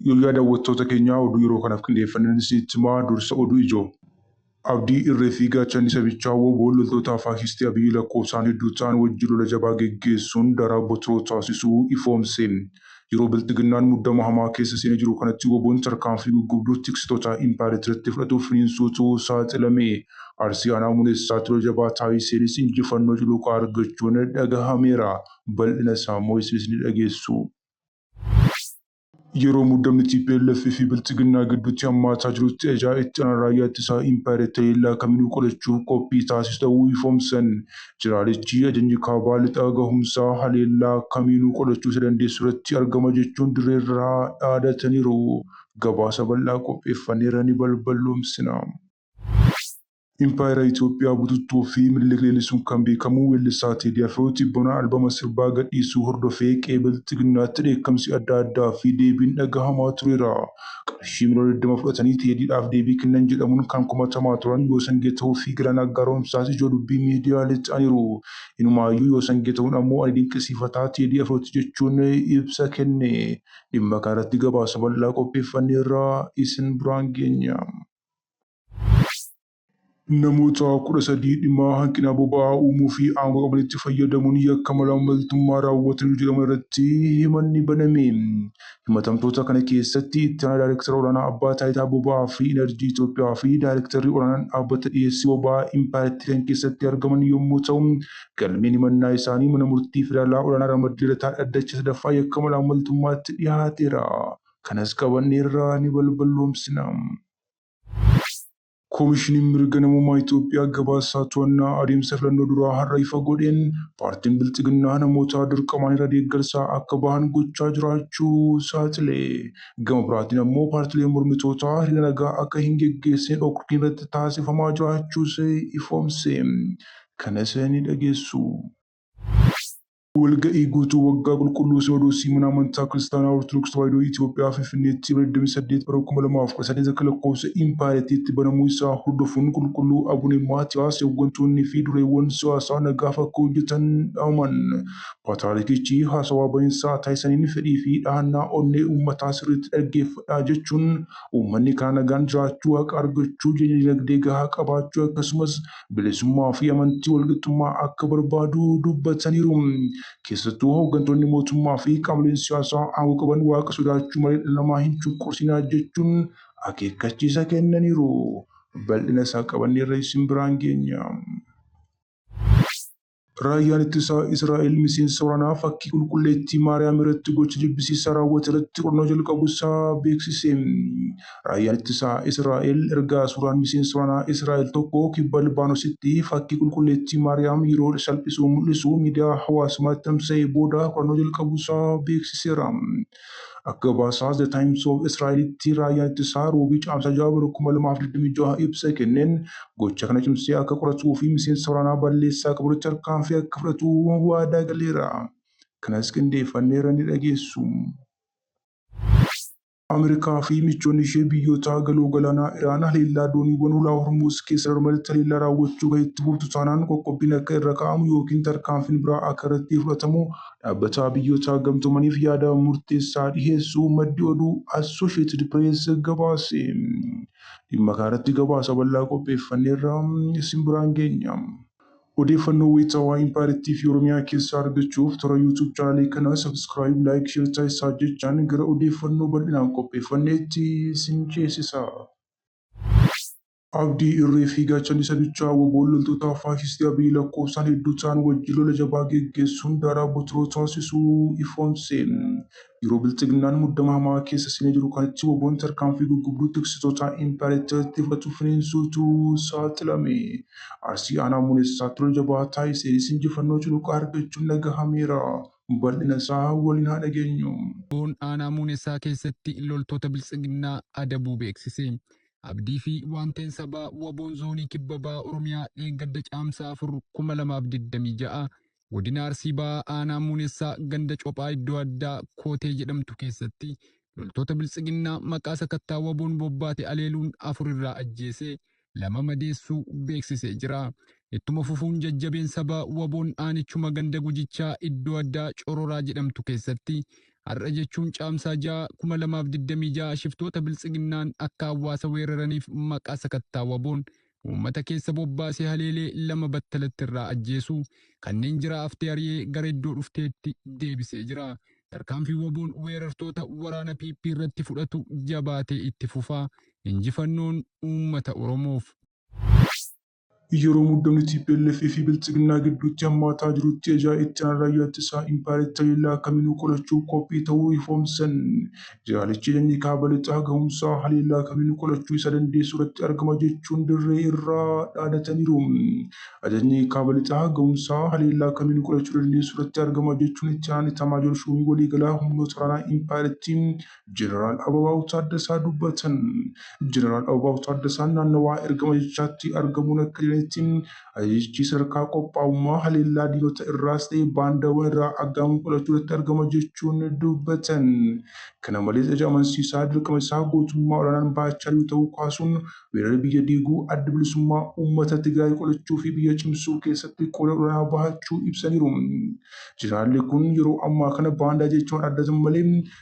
Yooyyaa daawwattoota keenyaa oduu yeroo kanaaf qindeeffannan isinitti himaa dursa oduu ijoo. Abdii irree fi gaachanni sabichaa wbo loltoota faashistii Abiy lakkoofsaan hedduu ta'an wajjin lola jabaa geggeessuun daraa botiroo taasisuu ifoomse. Yeroo Bilxiginnaan muddama hamaa keessa seenee jiru kanatti wbon tarkaanfii guggubduu tiksitoota impaaritiratti fudhatuuf finiinsuutu saaxilame. Arsii Aanaa Muneessaatti lola jabaa taasiseenis injifannoo cululuqaa argachuun dhagahameera. Bal'ina isaa immoo isinis ni dhageessu. Yeroo muddamni tplf fi Bilxiginnaa gidduutti hammaataa jirutti Ajaa Itti Aanaan Raayyaa Ittisaa Impaayeritti haleellaa kamiinuu qolachuuf qophii taasisu ta'uu ifoomsan. Jeneraalichi ajajni Kaabaa Lixaa gahumsaa haleellaa kamiinuu qolachuu isa dandeessu irratti argama jechuun dirreerraa dhaadataniiru. Gabaasa bal'aa qopheeffanneerra ni balballoomsina. Impaayera Itoophiyaa bututtuu fi Minilik leellisuun kan beekamu weellisaa Teedii Afroo tibbana albama sirbaa gadhiisuu hordofee qe'ee Bilxiginnaatti dheekkamsi adda addaa fi deebiin dhagahamaa tureera. qarshii miliyoona 20 fudhatanii Teediidhaaf deebii kennan jedhamuun kan komatamaa turan Yoosan Geetahuun fi Galaanaa Garoomsaas ijoo dubbii miidiyaalee ta'aniiru. Inumaayyuu Yoosan Geetahuun ammoo ani dinqisiifataa Teedii Afrooti jechuun ibsa kenne. Dhimma kanarratti gabaasa bal'aa qopheeffanneerra isin biraan geenya. Namoota 13 dhimma hanqina boba'aa uumuu fi aangoo qabanitti fayyadamuun yakka malaammaltummaa raawwataniiru jedhaman irratti himanni baname. Himatamtoota kana keessatti Itti Aanaa Daayrektara Olaanaa Abbaa Taayitaa Boba'aa fi Inarjii Itoophiyaa fi Daayrektarri Olaanaan Dhaabbata Dhiyeessii Boba'aa Impaayerattii kan keessatti argaman yommuu ta'u, galmeen himannaa isaanii Mana Murtii Federaalaa Olaanaa Ramaddilataa Dhaddacha Sadaffaa Yakka Malaammaltummaatti dhiyaateera. Kanas qabanneerra, ni balballoomsina. Komishiniin Mirga Namoomaa Itoophiyaa gabaasaa to'annaa adeemsa filannoo duraa har'a ifa godheen paartiin Bilxiginnaa namoota dirqamaan irra deeggarsaa akka bahan gochaa jiraachuu saaxile. Gama biraatiin ammoo paartileen mormitootaa hiriira nagaa akka hin geggeessine dhorkiin irratti taasifamaa jiraachuus ifoomse. Kanas ni dhageessu. Walga'ii guutuu waggaa qulqulluu Sinodoosii Mana Amantaa Kiristaanaa Ortodoks Tawaahidoo Itiyoophiyaa Finfinneetti Ebla 28 bara 2019 akka lakkoofsa Impaayerattiitti banamuu isaa hordofuun Qulqulluu Abune Maatiyaas hoggantoonnii fi dureewwan siyaasaa nagaaf akka hojjetan dhaaman. Paatiraarikichi haasawaa baninsaa taasisaniin fedhii fi dhahannaa onnee uummataa sirriitti dhaggeeffadhaa jechuun uummanni karaa nagaan jiraachuu, haqa argachuu, jireenya dinagdee gahaa qabaachuu akkasumas bilisummaa fi amantii walqixxummaa akka barbaadu dubbataniiru. Keessattuu hooggantoonni mootummaa fi qaamoleen siyaasaa aangoo qaban waaqa sodaachuu malee dhala namaa hin cunqursinaa jechuun akeekkachiisa kennaniiru. Bal'ina isaa qabanneerra isin biraan geenya. Raayyaan Ittisaa Israa'el miseensa waraanaa fakkii qulqulleettii Maariyaam irratti gocha jibbisiisaa raawwate irratti qorannoo jalqabuu isaa beeksise. Raayyaan Ittisaa Israa'el erga suuraan miseensa waraanaa Israa'el tokko kibba Libaanositti fakkii qulqulleettii Maariyaam yeroo salphisu mul'isu miidiyaa hawaasummaatti tamsa'ee booda qorannoo jalqabuu isaa beeksiseera. Akka gabaasaa The Times of Israa'elitti raayyaan ittisaa Roobii Caamsaa 6 bara 2026 ibsa kenneen gocha kana cimsee akka qoratuu fi miseensa waraanaa balleessaa qaburratti tarkaanfii akka fudhatu waadaa galeera. Kanas qindeeffanneerra ni dhageessu. Ameerikaa fi michoonni ishee biyyoota galoo galaanaa Iraan haleellaa dooniiwwan hulaa Hormuuz keessa darbanirratti haleellaa raawwachuu kan itti fuftu taanaan qoqqobbiin akka irra kaa'amu yookiin tarkaanfiin biraa akka irratti fudhatamu Dhaabbataa Biyyootaa Gamtoomaniif yaada murteessaa dhiheessuu maddi oduu Associated Press gabaase. Dhimma kanarratti gabaasa bal'aa qopheeffanneerra isin biraan geenya. Odeeffannoo wayitaawaa Impaayerattii fi Oromiyaa keessaa argachuuf toora YouTube chaanaalii kana subscribe, like, share taasisaa jechaan gara odeeffannoo bal'inaan qopheeffanneetti isin ceesisa. Abdii irree fi gaachanni sabichaa wbo loltoota faashistii Abiy lakkoofsaan hedduu ta'an wajjin lola jabaa geggeessuun daaraa Botiroo taasisuu ifoomse. Yeroo Bilxiginnaan muddama hamaa keessa seenee jiru kanatti wbon tarkaanfii guggubduu tiksitootaa impaareeteritti fudhatu finiinsuutu saaxilame. Arsii Aanaa Muneessaatti lola jabaa taasiseenis injifannoo culuqaa argachuun dhagahameera. Bal'ina isaa waliin haa dhageenyu. Wbon Aanaa Muunessaa keessatti loltoota Biltsiginnaa adabuu beeksise. Abdii fi waanteen sabaa waboon zoonii kibba baha Oromiyaa dheengadda caamsaa 4 2026 godina Arsii bahaa aanaa muunessaa ganda cophaa iddoo addaa kootee jedhamtu keessatti loltoota biltsiginnaa maqaa sakattaa waboon bobbaate aleeluun afur irraa ajjeesee lama madeessuu beeksisee jira. Ittuma fufuun jajjabeen sabaa waboon aanichuma ganda gujichaa iddoo addaa cororaa jedhamtu keessatti har'a jechuun Caamsaa 6, 2026 shiftoota Biltsiginnaan akka hawaasa weeraraniif maqaa sakattaa waboon uummata keessa bobbaasee haleelee lama battalatti irraa ajjeesuu, kanneen jiraa haftee ari'ee gara iddoo dhufteetti deebisee jira. Tarkaanfiin waboon weerartoota waraana PP irratti fudhatu jabaatee itti fufa. Injifannoon uummata Oromoof! Yeroo muddamni tplf fi Biltsiginnaa gidduutti hammaataa jirutti ajaa itti aanaa raayyaa ittisaa impaayeratti haleellaa akkaminuu qolachuuf qophii ta'uu ifoomsan. Jaalichi ajajni kaaba lixaa gahumsaa haleellaa kaminuu qolachuu isa dandeessu irratti argama jechuun dirree irraa dhaadataniiru. Ajajni kaaba lixaa gahumsaa haleellaa kaminuu qolachuu dandeessu irratti argama jechuun itti aanaan itaamaajoor shuumii waliigalaa humnoota waraanaa impaayeratti Jeneraal Ababaaw Taaddasaa dubbatan. Jeneraal Ababaaw Taaddasaan naannawaa ergama ajajichaatti argamuun akka jedhanitti ajajichi sadarkaa qophaa'ummaa haleellaa diinota irraas ta'e baandaawwan irraa aggaamuu qolachuu irratti argama jechuun dubbatan. Kana malees ajaja amansiisaa dirqama isaa gootummaa olaanaan bahachaa jiru ta'uu kaasuun weerara biyya diiguu adda bilisummaa uummata Tigraay qolachuu fi biyya cimsuu keessatti qooda olaanaa bahachuu ibsaniiru. Jeneraalli kun yeroo ammaa kana baandaa jechuun addatan malee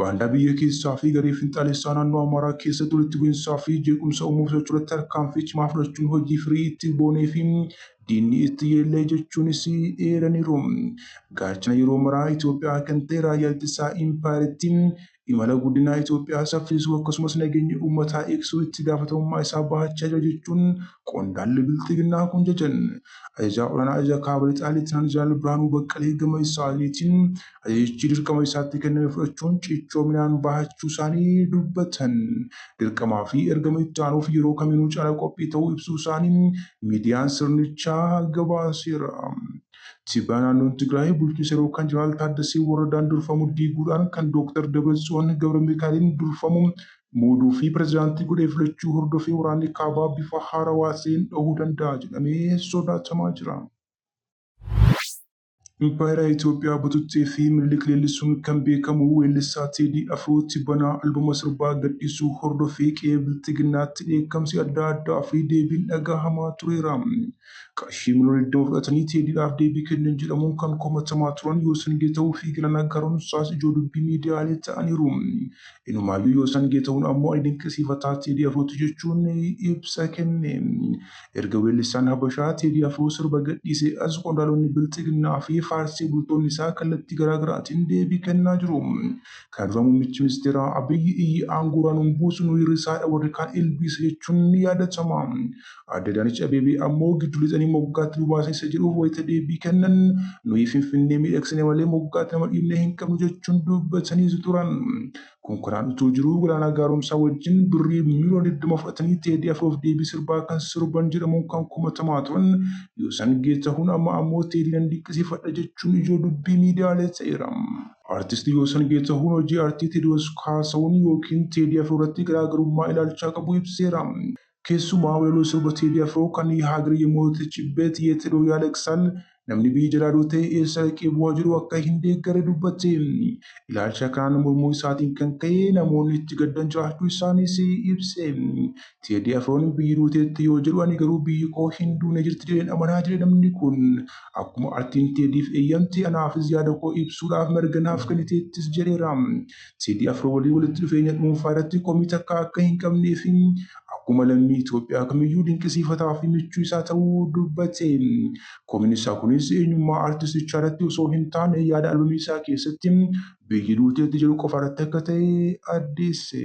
Baandaa biyya keessaa fi garee finxaalessaa naannoo Amaaraa keessatti walitti bu'insaa fi jeequmsa uumuuf socho'urratti tarkaanfii cimaa fudhachuun hojii firii itti boonee fi diinni itti yeellee jechuunis eeraniiru. Gaachana yeroo maraa Itoophiyaa kan ta'e Raayyaa Ittisaa Impaayerittii imala guddinaa Itoophiyaa saffisuu akkasumas nageenya uummataa eegsisuu itti gaafatamummaa isaa bahachaa jira jechuun qondaalli Bilxiginnaa kun jajan. Ajajaa Olaanaa Ajaja Kaaba Lixaa Leetinant Jeneraal Birhaanuu Baqqalee gama isaaniitiin Ajajichi dirqama isaatti kenname fudhachuun cichoominaan bahachuu isaanii dubbatan. Dirqamaa fi ergama itti aanuuf yeroo kamiinuu caala qophii ta'uu ibsuu isaanii miidiyaan sirnichaa gabaaseera. Tibana naannoon Tigraay bulchiinsa yeroo kan Jeneraal Taaddasee Warradaan durfamu diiguudhaan kan Dooktar Dabratsiyoon Gabramikaa'eliin durfamu muuduu fi pirezidaantii godhee filachuu hordofee waraanni kaabaa bifa haarawaa ta'een dhahuu danda'a jedhamee sodaatamaa jira. Impaayera Itoophiyaa bututtee fi Minilik leellisuun kan beekamu weellisaa Teedii Afroo tibbanaa albama sirbaa gadhiisuu hordofee qe'ee Bilxiginnaatti dheekkamsi adda addaa fi deebiin dhagahamaa tureera. Qarshii miliyoona 20 fudhatanii Teediidhaaf deebii kennan jedhamuun kan komatamaa turan Yoosan Geetahuu fi Galaanaa Gaaromsaas ijoo dubbii miidiyaalee ta'aniiru. Inumaayyuu Yoosan Geetahun ammoo ani dinqisiifataa Teedii Afrooti jechuun ibsa kenne. Erga weellisaan Habashaa Teedii Afroo sirba gadhiisee as qondaalonni Bilxiginnaa fi faarsee bultoonni isaa kallattii garaa garaatiin deebii kennaa jiru. Kana dura muummichi ministeeraa Abiyyi iyyi aangoorraa nun buusu nu hir'isaadha warri kaan ilbiisa jechuun ni yaadatama. Aadde Adaanech Abeebee ammoo giddu lixanii moggaatti nu baasan isa jedhuuf wayita deebii kennan nuyi Finfinnee miidhagsine malee moggaatti nama dhiibnee hin qabnu jechuun dubbataniis turan. Konkolaan utuu jiruu Galaanaa Gaaromsaa wajjin birrii miiliyoona 20 fudhatanii Teedii Afroof deebii sirbaa kan sirban jedhamuun kan komatamaa turan Yoosan Geetahuun amma ammoo Teedii nan dinqisiifadha jechuun ijoo dubbii miidiyaalee ta'eera. Artisti Yoosan Geetahuun hojii artii Teediwoos Kaasahun ykn Teedii Afroo irratti garaagarummaa ilaalchaa qabu ibseera. Keessumaa walaloo sirba Teedii Afroo kan Haagir Yemootechibbeet Yeet Hedoo Yaaleqsaal, Namni biyya jalaa duute eessa dhaqee booha jedhu akka hin deeggarre dubbatte. Ilaalcha kanaan mormuu isaatiin kan ka'e namoonni itti gaddan jiraachuu isaaniis ibse. Teedii Afroon biyyi duuteetti yoo jedhu ani garuu biyyi koo hin duune jirti jedheen amana jedhe namni kun. Akkuma artiin Teediif eeyyamte anaafis yaada koo ibsuudhaaf mirga naaf kenniteettis jedheera. Teedii Afroo waliin walitti dhufeenya dhuunfaa irratti komii takkaa akka hin qabnee fi akkuma lammii Itoophiyaa kamiyyuu dinqisiifataa fi michuu isaa ta'uu dubbate. Komiin isaa kunis eenyummaa artistichaa irratti osoo hin taane yaada albamii isaa keessatti biyyi duuteetti jedhu qofa irratti akka ta'e addeesse.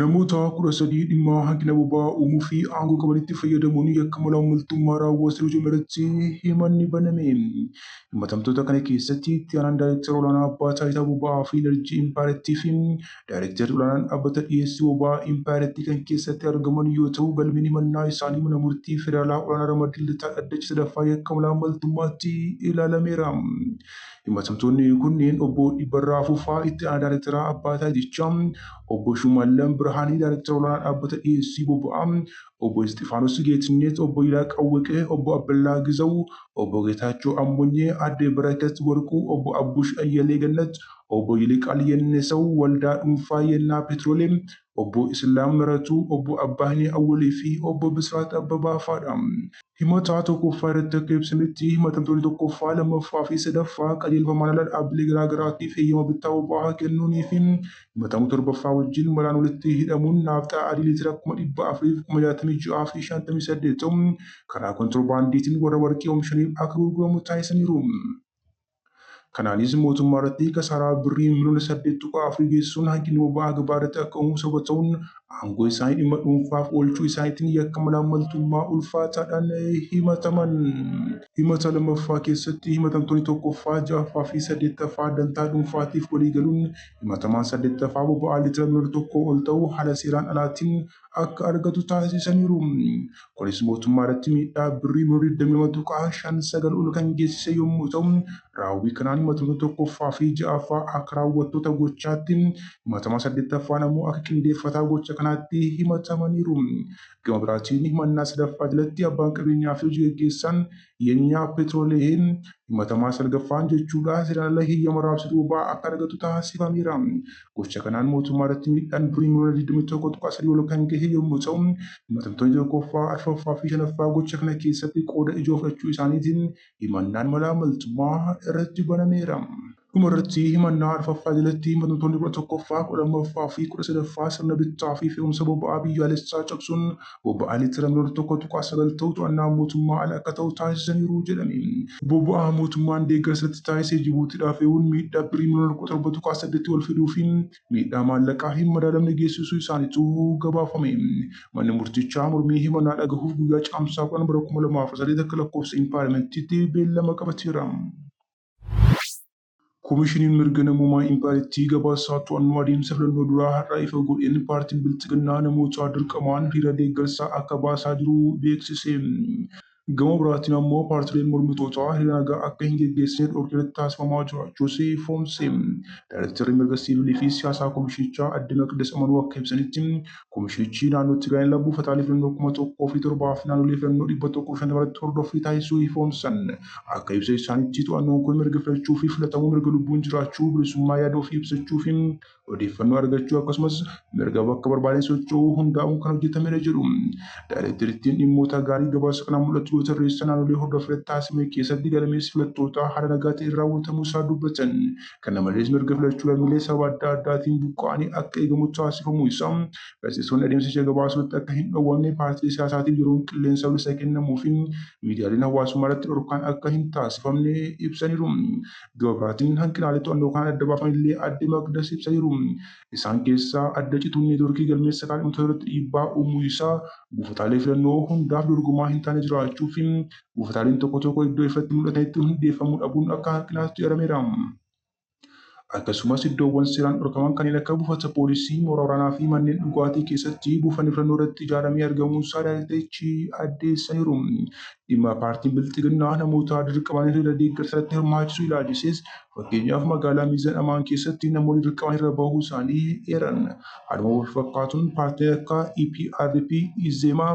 Namoota kudha sadii dhimma hanqina boba'aa uumuu fi aangoo qabanitti fayyadamuun yakka malaammaltummaa raawwataniiru jedhame irratti himanni baname. Himatamtoota kana keessatti itti aanaan daayirektara olaanaa abbaa taayitaa boba'aa fi inarjii impaayerattii fi daayirektarri olaanaan dhaabbata dhiyeessii boba'aa impaayerattii kan keessatti argaman yoo ta'u galmeen himannaa isaanii mana murtii federaalaa olaanaa ramaddii lidataa dhaddacha sadaffaa yakka malaammaltummaatti ilaalameera. Himatamtoonni kunneen Obbo Dhibbarraa Fufaa itti aanaa daayrektaraa Abbaa Taajichaa, Obbo Shumaallam Birhaanee daayrektara olaanaa dhaabbata dhiyeessii boba'aa, Obbo Isxifaanos Geetinnet, Obbo Yilaa Qawweqee, Obbo Abballaa Gizaw, Obbo Geetaachoo Ammonyee, Aadde Barakat Warquu, Obbo Abbush Ayyalee Gannat, Obbo Yiliqaal Yennesaw, Waldaa Dhuunfaa Yennaa Petrolem, Obbo Islaam Miratuu, Obbo Abbaahni Awwalii fi Obbo Bisraat Abbabaa faa dha. Himataa tokkoffaa irratti akka ibsametti, himatamtoonni tokkoffaa, lammaffaa fi sadaffaa qajeelfamaan ala dhaabbilee garaagaraatiif heyyama bittaa boba'aa kennuunii fi himatamu torbaffaa wajjin malaan walitti hidhamuun naafxaa adii liitira kuma dhibba afurii fi kuma jaatamii ja'aa fi shantamii saddeet karaa kontirobaandiitiin warra warqii omishaniif akka gurguramu taasisaniiru. Kanaanis mootummaa irratti kasaaraa birrii miliyoona saddeet tuqaa afur geessisuun hanqinni boba'aa gabaa irratti akka uumu sababa ta'uun aangoo isaanii dhimma dhuunfaaf oolchuu isaaniitiin yakka malaammaltummaa ulfaataadhaan himataman. Himata lammaffaa keessatti himatamtoonni tokkoffaa, ja'affaa fi saddeettaffaa dantaa dhuunfaatiif waliigaluun himatamaan saddeettaffaa boba'aa liitira miliyoona tokkoo ol ta'u haala seeraan alaatiin akka argatu taasisaniiru. Kunis mootummaa irratti miidhaa birrii miliyoona 22.59 ol kan geessise yommuu ta'u, raawwii kanaan himatoota tokkoffaa fi ja'affaa akka raawwattoota gochaatti, himatamaa saddeettaffaan ammoo akka qindeeffataa gocha kanaatti himatamaniiru. Gama biraatiin himannaa sadaffaa jalatti abbaan qabeenyaa fi hojigaggeessaan dhiyeenya peetiroliyeem himatamaa salgaffaan jechuudhaan seeraan ala heeyyama raabsuu boba'aa akka argatu taasifameera. Gocha kanaan mootummaa irratti miidhaan birrii miliyoona 21.3 ol kan gahe yommuu ta'u, himatamtoonni tokkoffaa, arfaffaa fi shanaffaa gocha kana keessatti qooda ijoo fudhachuu isaaniitiin himannaan malaammaltummaa irratti banameera. Dhuma irratti himannaa arfaffaa jalatti himatamtoonni kudha tokkoffaa, kudha lammaffaa fi kudha sadaffaa sirna bittaa fi fe'umsa boba'aa biyyaalessaa cabsuun boba'aa liitira miliyoona tokko tuqaa sagal ta'u to'annaa mootummaa ala akka ta'u taasisaniiru jedhame. Boba'aa mootummaan deeggarsa itti taasise Jibuutiidhaa fe'uun miidhaa Birrii miliyoona kudha torba tuqaa saddeetii ol fiduu fi miidhaa maallaqaa hin madaalamne geessisuu isaaniitu gabaafame. Manni murtichaa mormii himannaa dhagahuuf guyyaa Caamsaa kudhan bara kuma lamaa fi saddeet akka lakkoofsa Impaayera Meettiitti beellama qabateera. Komishiniin Mirga Namoomaa Impaayeritti gabaasaa to'annoo adeemsa filannoo duraa har'a ifa godheen paartiin Bilxiginnaa namoota dirqamaan hiriira deeggarsaa akka baasaa jiru beeksise. Gama biraatiin ammoo paartileen mormitootaa hiriira nagaa akka hin geggeessine dhorkiirratti taasifamaa jiraachuus ifoomse. Daarektarri Mirga Siivilii fi Siyaasaa Komishinichaa Aadde Maqdas Amanuu akka ibsanitti, Komishichi naannoo Tigraay irraa buufataalee filannoo kuma tokkoo fi torbaa fi naannolee filannoo dhibba tokkoo fi shantama irratti hordoffii taasisuu ifoomsan. Akka ibsa isaaniitti to'annoon kun mirga filachuu fi filatamuu, mirga lubbuun jiraachuu, bilisummaa yaada ofii ibsachuu fi odeeffannoo argachuu akkasumas mirga bakka barbaadeen socho'uu hundaa'uun kan hojjetamedha jedhu. Daayirekterittiin dhimmoota gaarii gabaasa kanaan mul'atu yoo tarreessan naannolee hordoffiirratti taasifame keessatti gadameessi filattootaa haala nagaa ta'een raawwatamuu isaa dubbatan. Kana malees mirga filachuu lammiilee sababa adda addaatiin buqqa'anii akka eegamu taasifamuu isaa gaazexeessonni adeemsicha gabaasuurratti akka hin dhowwamne paartilee siyaasaatiif yeroon qilleensa bilisa kennamuufi miidiyaaleen hawaasummaarratti dhorkaan akka hin taasifamne ibsaniiru. Gama biraatiin hanqinaalee to'annoo kanaan adda baafanillee Aadde Maqdas ibsaniiru. Isaan keessaa adda cituun neetworkii galmeessa kaadhimamtootaarratti dhiibbaa uumuu isaa, buufataalee filannoo hundaaf dorgomaa hin taane jiraachuufi buufataaleen tokko tokko iddoo ifatti mul'atanitti hundeeffamuu dhabuun akka hanqinaatti eerameera. Akkasumas iddoowwan seeraan dhorkaman kanneen akka buufata poolisii, mooraa waraanaa fi manneen dhugaatii keessatti buufanni filannoo irratti ijaaramee argamuusaa daayreekterichi addeessaniiru. Dhimma paartiin Bilxiginnaa namoota dirqamaan hiriira deeggarsa irratti hirmaachisuu ilaalchisees fakkeenyaaf magaalaa Miizan Amaan keessatti namoonni dirqamaan hiriira bahuu isaanii eeran. Haaluma walfakkaatuun paartileen akka EPRP, Izeemaa,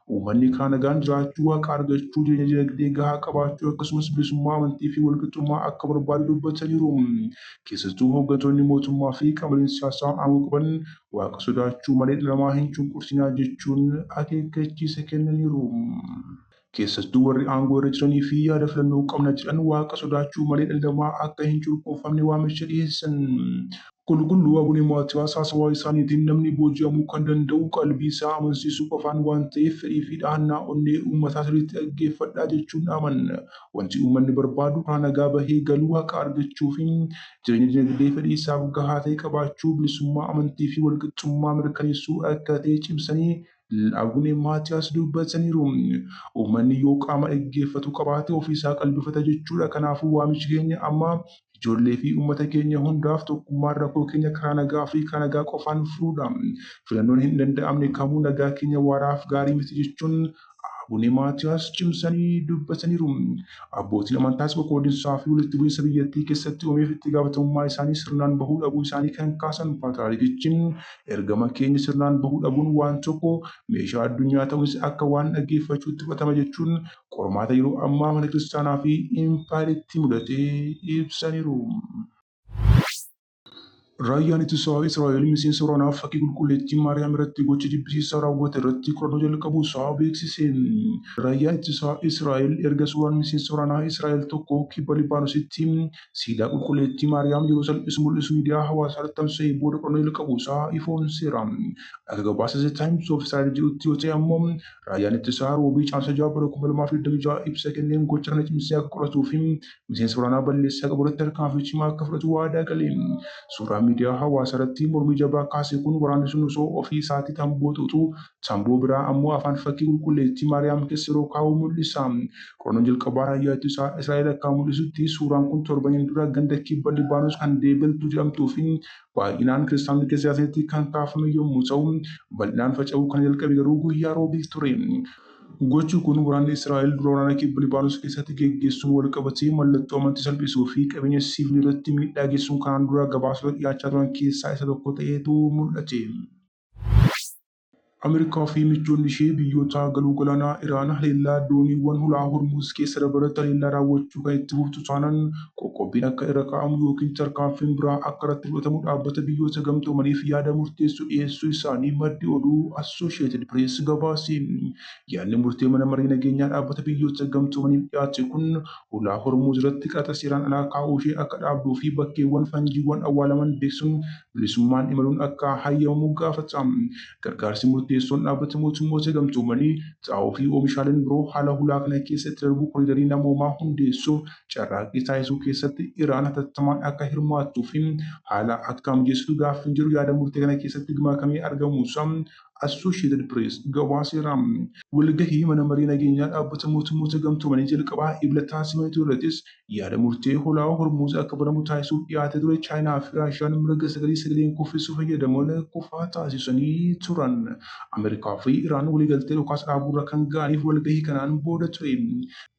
Uummanni karaa nagaan jiraachuu, waaqa argachuu, jireenya dinagdee gahaa qabaachuu akkasumas bilisummaa amantii fi walqixxummaa akka barbaadu dubbataniiru. Keessattuu hooggantoonni mootummaa fi qaamoleen siyaasaa aangoo qaban waaqa sodaachuu malee dhala namaa hin cunqursinaa jechuun akeekkachiisa kennaniiru. Keessattuu warri aangoo irra jiranii fi yaada filannoo qabna jedhan waaqa sodaachuu malee dhalli namaa akka hin cunqurfamne waamicha dhiheessan. Qulqulluu Abune Maatiyaas haasawaa isaaniitiin namni booji'amuu kan danda'u qalbii isaa amansiisuu qofaan waan ta'eef fedhii fi dhahannaa onnee uummataa sirriitti dhaggeeffadhaa jechuun dhaaman. Wanti uummanni barbaadu karaa nagaa bahee galuu, haqa argachuu fi jireenya dinagdee fedhii isaaf gahaa ta'e qabaachuu, bilisummaa amantii fi walqixxummaa mirkaneessuu akka ta'e cimsanii, Abune Maatiyaas dubbataniiru. Uummanni yoo qaama dhaggeeffatu qabaate ofiisaa qalbifata jechuudha. Kanaafuu waamichi keenya amma ijoollee fi uummata keenya hundaaf tokkummaan rakkoo keenya karaa nagaa fi karaa nagaa qofaan furuudha. Filannoon hin danda'amne kamuu nagaa keenya waaraaf gaarii miti jechuun Abune Maatiyaas cimsanii dubbataniiru. Abbootiin amantaas qoqqoodinsaa fi walitti bu'iinsa biyyattii keessatti uumeef itti gaafatamummaa isaanii sirnaan bahuu dhabuu isaanii kan kaasan Paatiraarikichi, Ergaman keenya sirnaan bahuu dhabuun waan tokko meeshaa addunyaa ta'uunis akka waan dhaggeeffachuutti fudhatama jechuun qormaata yeroo ammaa mana kiristaanaa fi impaayeritti mudate ibsaniiru. Raayyaan Ittisaa Israa'el miseensa waraanaaf fakkii Qulqulleettii Maariyaam irratti gocha jibbisiisaa raawwate irratti qorannoo jalqabuu isaa beeksise. Raayyaan Ittisaa Israa'el erga suuraan miseensa waraanaa Israa'el tokko kibba Libaanositti siidaa qulqulleettii Maariyaam yeroo salphisu mul'isu miidiyaa hawaasaa irratti tamsa'ee booda qorannoo jalqabuu isaa ifoomseera. Akka gabaasa The Times of Israel jedhutti yoo ta'e ammoo raayyaan ittisaa Roobii Caamsaa 6 bara 2026 ibsa kenneen gocha kana cimsee akka qoratuu fi miseensa waraanaa balleessaa qabu irratti tarkaanfii cimaa akka fudhatu waadaa gale. Suuraan miidiyaa hawaasaa irratti mormii jabaa kaase kun waraanni sun osoo ofii isaatii tamboo xuuxuu Tamboo biraa ammoo afaan fakkii qulqulleettii Maariyaam keessa yeroo kaa'u mul'isa. Qorannoo jalqabaa raayyaatu isaa Israa'el akka mul'isutti suuraan kun torbaniin dura ganda kibba Libaanos kan Deebeltuu jedhamtuufi baay'inaan kiristaanonni keessa jiraatanitti kan kaafame yommuu ta'u, bal'inaan faca'uu kan jalqabe garuu guyyaa Roobii ture. Gochi kun waraanni Israa'el dura waraana kibba Libaanos keessatti geggeessuun walqabatee mallattoo amantii salphisuufi qabeenya siivilii irratti miidhaa geessisuun kanaan dura gabaasota dhiyaachaa turan keessaa isa tokko ta'eetu mul'ate. Ameerikaa fi michoonni ishee biyyoota galoo galaanaa Iraan haleellaa dooniiwwan hulaa Hormuuz keessa dabarratti haleellaa raawwachuu kan itti fuftu taanaan qoqqobbiin akka irra kaa'amu ykn tarkaanfiin biraa akka irratti fudhatamu Dhaabbata Biyyoota Gamtoomaniif yaada murteessu dhiyeessuu isaanii maddi oduu Associated Press gabaase. Yaadni murtee Mana Maree Nageenyaa Dhaabbata Biyyoota Gamtoomaniif dhiyaate kun hulaa Hormuuz irratti qaraxa seeraan alaa kaa'uu ishee akka dhaabduu fi bakkeewwan fanjiiwwan awwaalaman beeksuun bilisummaan imaluun akka hayyamamu gaafata. Gargaarsi murteessoon Dhaabbata Mootummoota Gamtoomanii, xaa'oo fi oomishaaleen biroo haala hulaa kana keessa itti darbuu koriidarii namoomaa hundeessuuf carraaqqii taasisuu keessatti Iraan hatattamaan akka hirmaattuu fi haala akka mijeessitu gaaffiin jedhu yaada murtee kana keessatti gmakamee argamuusaa Associated Press gabaaseera. Walgahii Mana Marii Nageenyaa Dhaabbata Mootummoota Gamtoomanii jalqabaa Ebla taasifame ture irrattis yaada murtee Holaawaa Hormuuz akka banamu taasisuuf dhiyaatee ture Chaayinaa fi Raashiyaan mirga sagalee sagaleen kuffisuu fayyadamuun kufaa taasisanii turan. Ameerikaa fi Iraan waliigaltee dhukaasa dhaabuurra kan ga'aniif walgahii kanaan booda ture.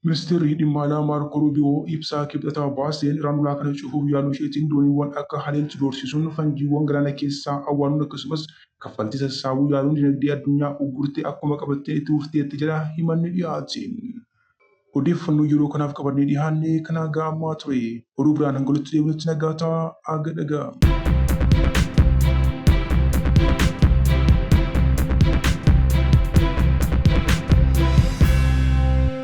Ministeerri Dhimma Alaa Maarkoo Ruubiyoo ibsa Kibxata baaseen Iraan ulaa kana cufuuf yaaluu isheetiin dooniiwwan akka haleeltu doorsisuun fanjiiwwan galaana keessaa awwaanuun akkasumas kaffaltii sassaabuu yaaluun dinagdee addunyaa uggurtee akkuma qabattee itti fufteetti jedha himanni dhiyaate. Odeeffannoo yeroo kanaaf qabannee dhihaanne kan haga ammaa ture. Oduu biraan hanga walitti deebinutti nagaa ta'aa haga dhagaa.